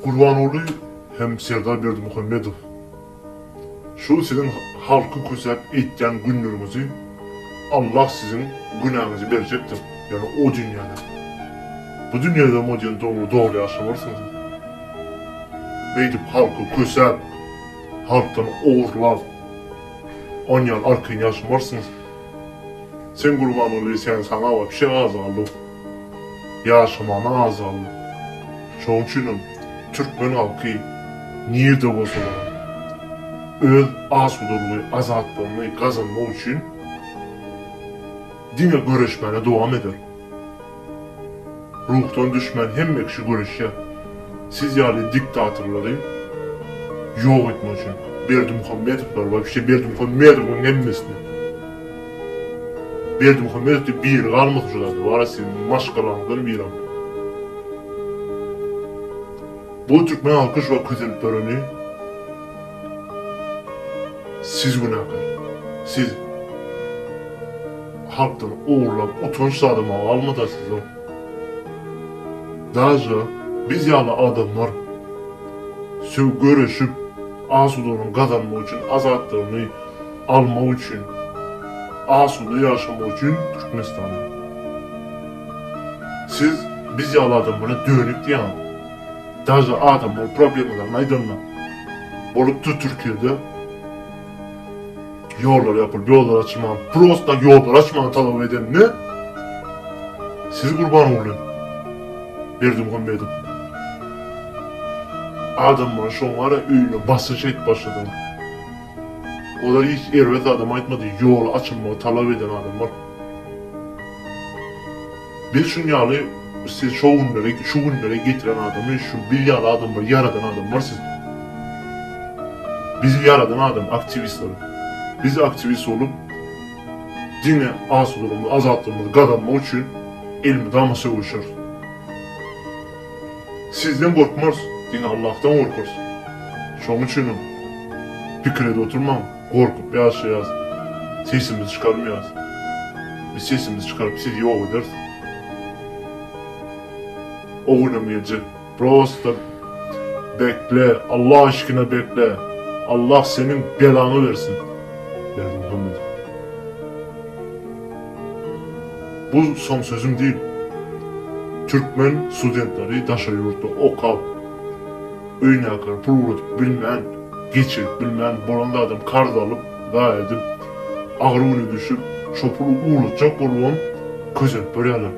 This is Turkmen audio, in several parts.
Gurbanguly hem Serdar Berdimuhamedow şu siziň halky kösäp eýtýän günleriňizi Allah siziň günäňizi berjekdir ýöne o dünýäde. Bu dünýäde o diýen dogry dogry ýaşamarsyňyz. Beýdip halky kösäp, halkdan ogurlap onýan arkaýyn ýaşamarsyňyz. Sen Gurbanguly sen saňa wapşe az galdy. ýaşamana azgynlyk. Şonuň üçinem türkmen halky nirde bolsalar hem öz asudalygy, azatlygyny gazanmak üçin diňe göreşmäne dowam eder. Ruhdan düşmän hemme kişi göreşýär. Siz ýaly diktatorlary ýok etmek üçin. Berdimuhamedowlary, waýpşe Berdimuhamedowyň hemmesini. Berdimuhamedow diri galmasyn şu zady wara siziň maşgalaňyzdan biram bu türkmen halky şu wagt kösenip durany siz günäkär siz halkdan ogurlap utanç zady ma galmada sizde daže biz ýaly adamlar söw göreşip asudalygyny gazanmak üçin azatlygyny almak üçin, asuda ýaşamak üçin Türkmenistana. Siz biz ýaly adamlara dönük diýýäňiz. Daže adamlar problemalaryny aýdanda, bolupdyr Türkiýede ýollar ýapylyp, ýollar açylman, prosta ýollar açmagy talap edende, siz Gurbanguly Berdimuhamedow adamlara şoňa-da öýüne basyş edip başladyňyz. Oda hiç erbet adam aýtmady, ýoly açylmagy talap eden adamlar. Biz şuň ýaly siz şo günlere, şu günlere getiren adamy şu biz ýaly adamlar ýaradan adamlar siz. Bizi ýaradan adam aktiwistler. Biz aktiwist bolup diňe asudalygymy, azatlygymyzy gazanmak üçin elmydama söweşeris. Sizden gorkmarys, diňe Allahdan gorkarys. Şonuň üçinem pikir edip oturmaň, gorkup ýaşaýas, sesimizi çykarmaýas. Biz sesimizi çykaryp sizi ýok ederis. O günem geljek. Prosta bekle, Allah aşkyna bekle. Allah seniň belaňy bersin, Berdimuhamedow. Bu soň sözüm diýip, türkmen studentleri daşary ýurtda okap, öýnäkine pul ugradyp bilmän, geçirip bilmän, bolan zadam karz alyp, zaýa edip, agyr güne düşüp, şo puly ugratjak bolubam kösenip görýärler.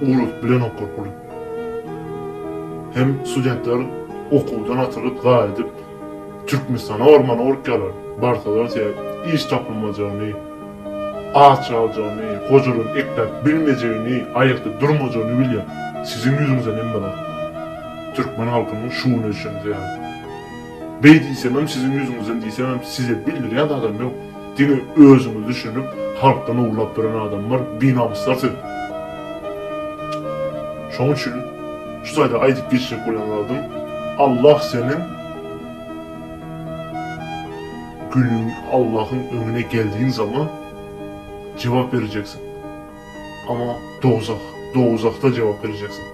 Ugradyp bilenoklar puly. Hem studentler okuwdan atylyp, zaýa edip, Türkmenistana barmana gorkýarlar. Barsalar, iş tapylmajany, Aç aljany, gojadan ekläp bilmejegini, aýakda durmajagny bilýän siziň ýüzüňizden hemme zat. Türkmen halkynyň şu güne çenli ýaly. Beý diýsemem siziň ýüzüňizden diýsemem size bildirýän adam ýok. Diňe özüňiz düşünip halkdan owlap ýören adamlar, binamyslar siz. Şoň üçin şu taýda aýdyp geçjek bolýan zadym Allah seniň. Günüň Allahyň öňüne geldiň zaman jogap berjeksiň. Ama dowzah, dowzahda jogap berjeksiň.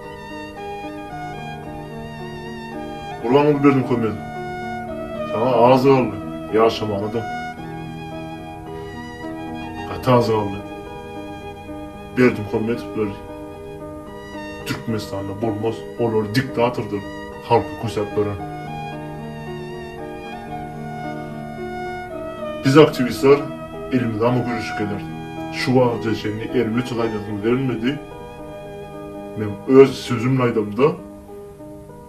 Gurbanguly Berdimuhamedow, saňa az galdy ýaşamanadam. Gaty az galdy. Berdimuhamedowlar. Türkmenistanda bolmaz olar diktatordyr halky kösäp beren. Biz aktiwistler elimizama güreşip geler şu wagtja çenli erbet gaýnasymy berilmedi men öz sözümni aýdamda.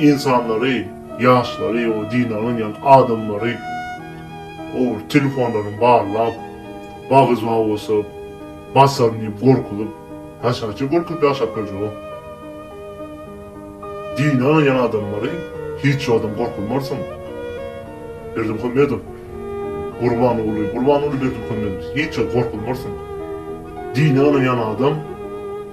Ynsanlary, ýaşlary we dine ynanýan adamlary ogry telefonlaryny barlap, bagyzma bosup, basaryn diýip gorkuzyp, haşaça görkezip ýaşap biljegok. Dine ynanýan adamlary hiç zadam gorkuzmarsyň. Berdimuhamedow, Gurbanguly, Gurbanguly Berdimuhamedow hiç zat gorkuzmarsyň. Dine ynanýan adam.